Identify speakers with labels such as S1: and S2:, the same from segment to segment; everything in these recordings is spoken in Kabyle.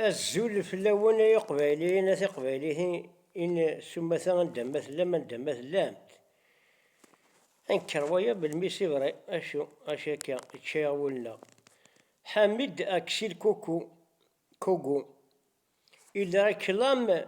S1: Azul fell-awen ay iqbayliyen a tiqbayliyin s umata anda ma tellam anda ma tellamt. Anker waya belmi sivray acu acu akka ičča-yaɣ wul-nneɣ. Hamid Aksil Kuku, Kogu, il réclame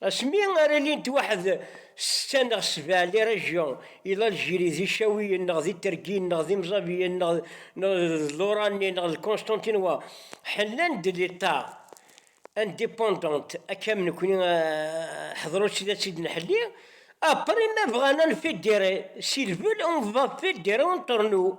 S1: Asmi ara ilint waḥed, setta neɣ sebɛa, les régions, i Laljirie, d Icawiyen, neɣ d Itergiyen, neɣ d Imẓabiyen, neɣ d Lorani, neɣ d Constantinois, ḥellan-d l'Etat, indépendant, akka am nekni, ḥedṛu-tt la tt-id-nḥelli, après ma bɣan a nfédéré, s'ils veulent on va fédérer entre nous,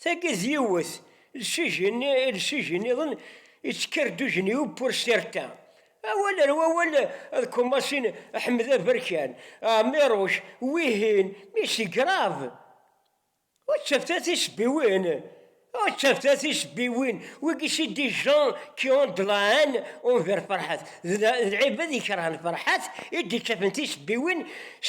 S1: Tagi d yiwet, lsij nniḍen yettker d ujenyu pour certains. Awal ar wawal ad commencer Ḥmed Aberkan, Ɛmiruc, wihin, mais c'est grave! Ur ttafet-a tisebbiwin, ur ttafet-a tisebbiwin, wigi c'est des gens qui ont de la haine envers Ferhat, d lɛibad ikerhen Ferhat i d-ittafen tisebbiwin s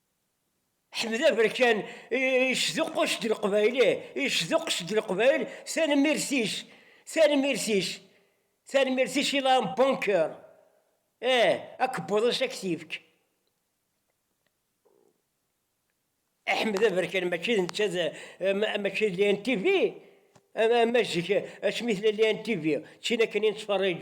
S1: Ḥmed Aberkan yesduqqus-d Leqbayel, ih, yesduqqes-d Leqbayel, tanemmirt-is, tanemmirt-is, tanemmirt-is i Laurent Bunker, ih, akebbuḍ-is ad k-t-yefk. Ḥmed Aberkan mačči d netta, mačči d l'ANTV, ama zik asmi tella l'ANTV, d tin akken i nettferrij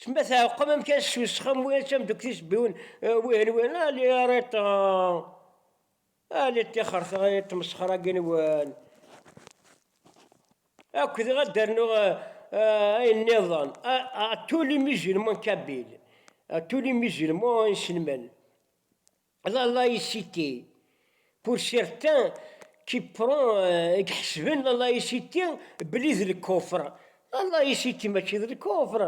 S1: Tma tɛeqqem amkan s usxem wi ad tamdukti sbiwen wihin wihin ali ariṭ ali ṭixert ay tmesxra ginwen akk diɣ ad d-rnuɣ ayen nniḍen a tous les musulmans kabyle a tous les musulmans iselman. La laïcité, pour certains qui prend i iḥesben la laïcité belli d lkufr, la laïcité mačči d lkufr,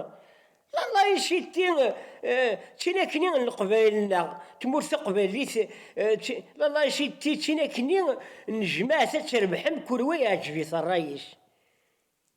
S1: la laïcité d tinakni n leqbayel-nneɣ, tmurt taqbaylit, la laïcité d tinakni n jmaɛt ad trebḥem kul wa iɛǧeb-it rray-is.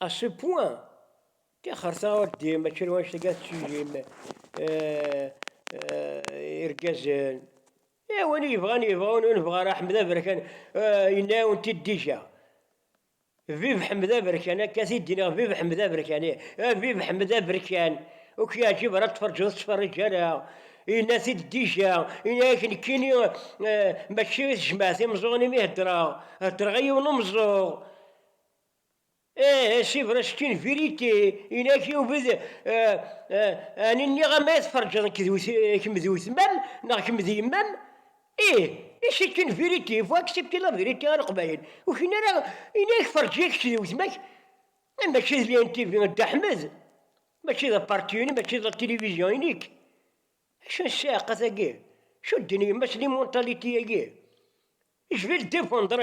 S1: À ce point tixerṣa ur d-yem mačči n wannect-agi ara tettijjim irgazen. Eh, win i yebɣan yebɣa, win ur nebɣa ara, Ḥmed Aberkan yenna-yawen-t-id déjà. Vive Ḥmed Aberkan, akka i t-id-nniɣ, vive Ḥmed Aberkan, ih, eh, vive Ḥmed Aberkan, ur k-yeɛǧib ara ad tferǧeḍ ur tettferriǧ ara, yenna-t-id déjà, yenna-ak nekkini mačči i tejmaɛt imeẓẓuɣen imi heddreɣ, heddreɣ i yiwen umeẓẓuɣ. Ih, si vrai, c'est une vérité, inak yubed a n-iniɣ am ay tferǧeḍ nekk d kemm d wetmam neɣ kemm d yemma-m, ih, ih c'est une vérité, il faut accepter la vérité a Leqbayel, ur kfin ara inak ferǧ-iyi kečč d wetma-k, ah mačči d l'INTV a Dda Ḥmed, mačči d aparti-inu, mačči d la télévision i nekk, acu n ssiɛqa tagi, acu d-tenna yemma-s, l'immontalité-agi, je vais le défendre,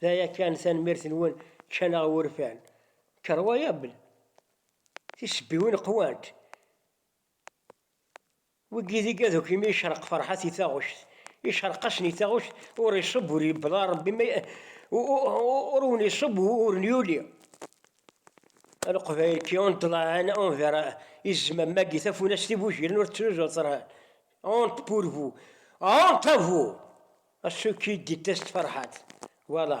S1: D aya kan, tanemmirt-nwen ččan-aɣ wurfan. Incroyable! Tisebbiwin qwant. Wigi d igaduk imi yecreq ferḥat i taɣect. Yecreq-asen i taɣect, ur iṣubb ur yebḍa Rebbi ma ur wen iṣubb ur n yuli. A Leqbayel qui ont de la haine envers izmam-agi tafunast igujilen ur ttruẓu ṭṭran. Honte pour vous! Honte à vous! Acu ik-id-ittasen Ferḥat? Wala.